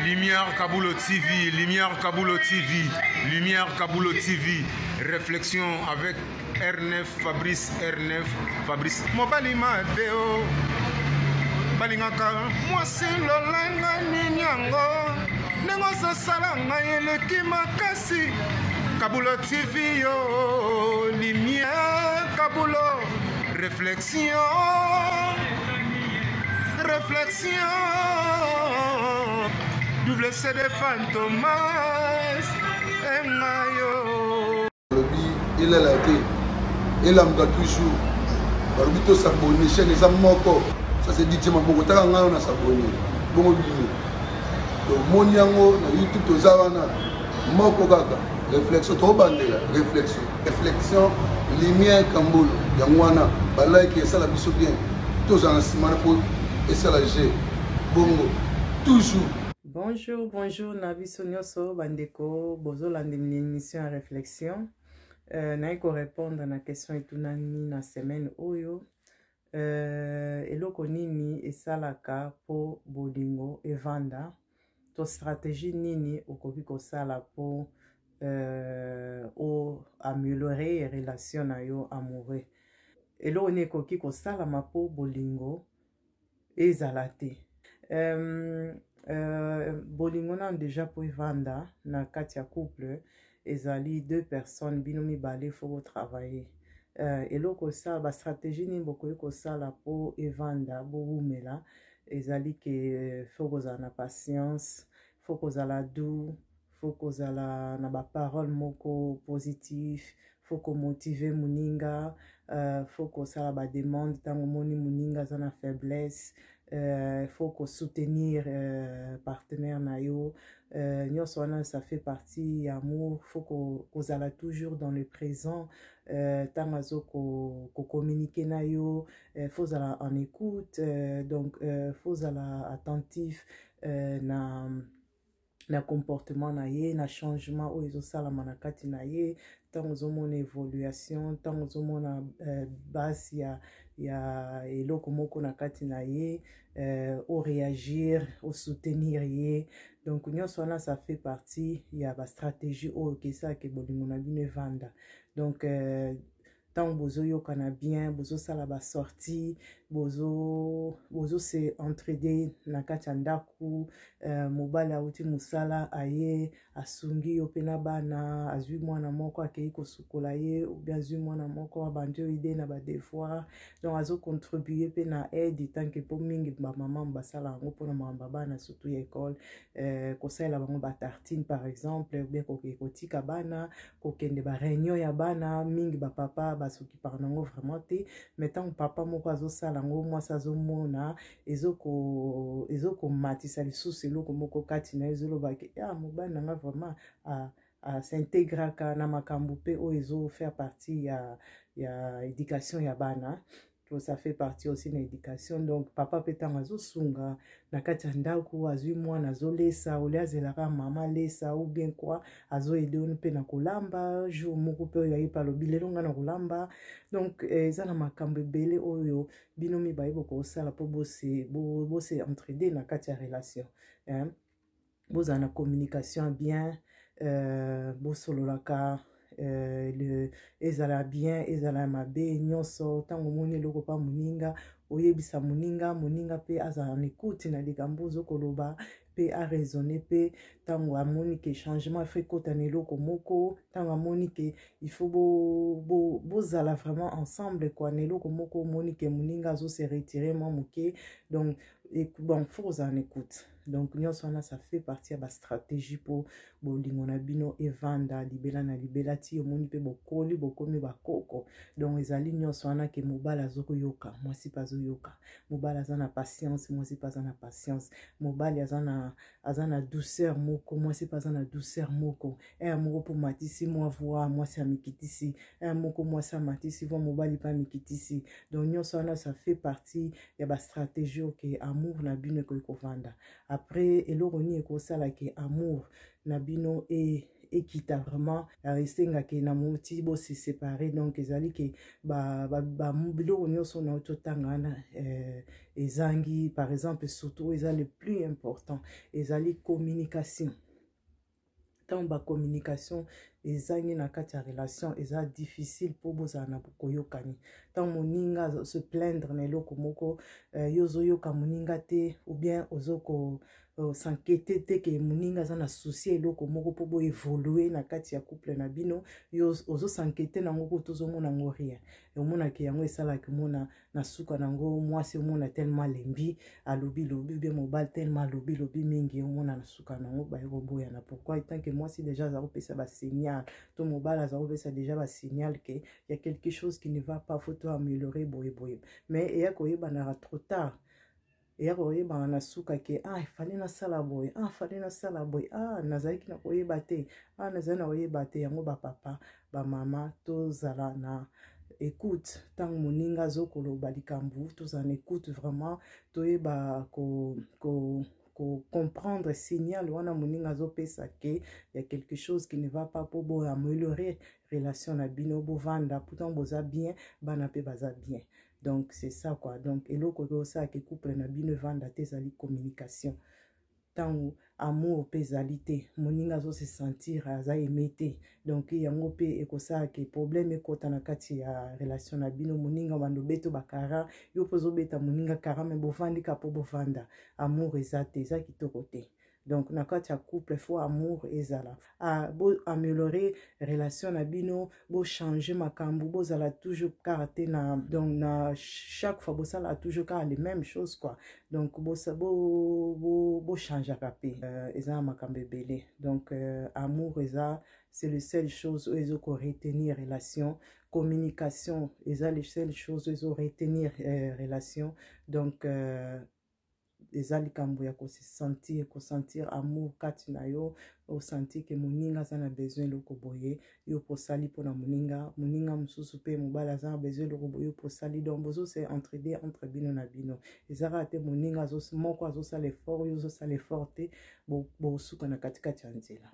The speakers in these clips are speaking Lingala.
Lumière Kabulo TV, Lumière Kabulo TV, Lumière Kabulo TV, réflexion avec R9, Fabrice R9, Fabrice. Mobali Mateo, balingaka mwasi lolenga nini yango ndenge ozosala ngai eleki makasi kabulo tv yo limie kabulo reflex Réflexion, double CD Fantomas, et Mayo. Il a la tête, il a toujours. balobi tosabone chaine eza moko ça c'est dit tima bongo taka ngai na sabone bongo bino tomoni yango na youtube toza wana moko kaka réflexion tobandela réflexion reflexion lumière kambolo yango wana balike esala biso bien tozala na nsima na po esala je bongo toujours bonjour bonjour na biso nyonso bandeko bozolanda émission ya réflexion euh, naye korépondre na question etunani na semaine oyo euh, eloko nini esalaka mpo bolingo evanda to stratégie nini okoki kosala po euh, o améliorer relation na yo amoureux eloko nini ekoki kosalama po bolingo ezala te euh, euh, bolingo nano deja po evanda na kati ya couple ezali deux personnes bino mibale faut bo travailler euh, eloko esala ba stratégie nini bokoki kosala mpo evanda bowumela ezali ke euh, faut kozala na patience faut kozala doux faut kozala na baparole moko positif faut komotive moninga uh, faut kosala bademande ntango omoni moninga aza na faiblesse euh, faut ko soutenir euh, partenaire na yo euh, nyonso wana ça fait partie ya amour faut ko kozala toujours dans le présent ntango euh, azo ko, ko communiquer na yo euh, faut ozala en écoute euh, donc euh, faut ozala attentif euh, na na comportement na ye na changement oyo ezosalama na kati na ye ntango ozomona évolution ntango ozomona euh, base ya ya eloko moko na kati na ye euh, oréagir osoutenir ye donc nyonso wana ça fait partie ya bastratégie oyo kesaka bolingo na bino evanda donc euh, ntango bozoyokana bien bozosala basortie bozo, bozo se entraide na kati ya ndako uh, mobali auti mosala aye asungi yo mpe na bana azwi mwana moko akei kosukola ye obi azwi mwana moko abandi yo ide na badevoir donc azocontribue mpe na aide tanke mpo mingi bamama basala yango mpona makambo ya bana surtout ya ekole uh, kosalela bango batartine par exemple obien kokotika bana kokende ba réunion ya bana mingi ba papa basuki par nango vraiment te mais ntango papa moko azosala yango mwasi azomona ezokomatisa ezo lisusu eloko moko kati na ye ezoloba ke ya ah, mobali na nga vraiment ah, asintegraka na makambo mpe oyo ezofaire partie ya, ya éducation ya bana to ça fait partie aussi na éducation donc papa mpe ntango azosunga na kati ya ndako azwi mwana azolesa olie azelaka mama alesa ou bien kua azoede oni mpe na kolamba jour moko mpe oyo ayepe alobi lelo ngai na kolamba donc eh, eza na makambo ebele oyo bino mibaye bokosala mpo bose, bo, bose entraide na kati ya relation hein? bozala na communication bien euh, bosololaka euh, le ezala bien ezala ya mabe nyonso ntango omoni eloko mpa moninga oyebisa moninga moninga mpe azala na ekuti na likambo ozo koloba mpe araisonne mpe ntango amoni ke changement efo ekota na eloko moko ntango amoni ke il faut bozala bo, bo vraiment ensemble kua na eloko moko omoni ke moninga azo se retire mwa moke donc bon fo kozala na ekuti donc nyonso wana ça fait partie ya bastratégie mpo bolingo na bino evanda libela na libela ti omoni mpe bokoli bokomi bakoko donc ezali nyonso wana ke mobali azokoyoka mwasi mpe azoyoka mobali aza na patience mwasi mpe aza na patience mobali aza na aza na douceur moko mwasi mpe aza na douceur moko ere eh, moko mpo matisi mwa voi mwasi amikitisi ere eh, moko mwasi amatisi voi mobali mpe amikitisi donc nyonso wana ça fait partie ya ba stratégie oyo ke amour na bino ekoki kovanda après eloko nini ekosala ke amour na bino e ekita vraiment esenga ke na moti bosi séparé donc ezali ke biloko nyonso na totanga wana eh, ezangi par exemple surtout oyo eza le plus important ezali communication ntango bacommunication ezangi na kati ya relation eza difficile mpo bozala na koyokani ntango moninga se plaindre na eloko moko euh, yo ozoyoka moninga te ou bien ozoko euh, sankete te ke moninga aza na souci ya eloko moko mpo boevolue na kati ya couple na bino yo ozosankete na yango kutu ozomona yango rien omonake yango esalaki omona na suka na yango mwasi omona telema alembi alobi lobi obie mobali telema alobi lobi mingi omona na suka na yango baye koboyana pourkui tanke mwasi deja aza kopesa basignal to mobali aza kopesa deja basignal ke ya quelque chose qui ne va pas faut to améliorer boye boye mais eya koyebanaka trop tard eya koyebana na suka ke a ah, efali nasala boye a ah, fali nasala boye a ah, nazalaki na koyeba te a nazali na koyeba te yango bapapa bamama tozala na écoute ntango moninga azokoloba likambo tozala na écoute vraiment toyeba ko, ko kocomprendre signal wana moninga azopesa ke ya quelque chose qui ne va pas mpo boameliore relation na bino bovanda pourtant boza bien bana mpe baza bien donc c'est ça quoi donc eloko oyo osala ke couple na bino evanda te ezali communication ntango amour mpe ezali te moninga azo se sentir aza aime te donc yango mpe ekosala ke problème ekota na kati ya relation na bino moninga obanda obeta bakara yo mpe ozobeta moninga kara me bovandi ka mpo bovanda amour eza te eza kitoko te donc na kati ya couple fo amour ezala ah, bo améliorer relation na bino bo changer makambo bozala toujours kaka te na donc na chaque fois bosala toujours kaka les mêmes choses quoi donc bochangeaka bo, bo, bo mpe euh, eza na makambo ebele donc euh, amour eza c'est le seule chose oyo ezo koretenir relation communication eza le seule chose oyo ezo retenir euh, relation donc euh, eza likambo ya kosentir kosentir amour kati na yo osentir ke moninga aza na besoin eloko boye yo mpo osali mpo na moninga moninga mosusu mpe mobali aza na besoin eloko boye yo mpo osali donc bozose entraide entre bino na bino eza kaka te moninga moko azosala effort yo ozosala effort te bosuka na katikati ya nzela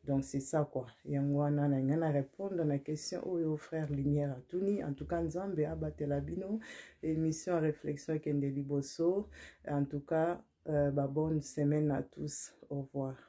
donc c'est ça quoi yango wana na ngai na répondre na question oyo frère lumière atuni en tout cas nzambe abatela bino émission réflexion ekende liboso en tout cas euh, ba bonne semaine à tous au revoir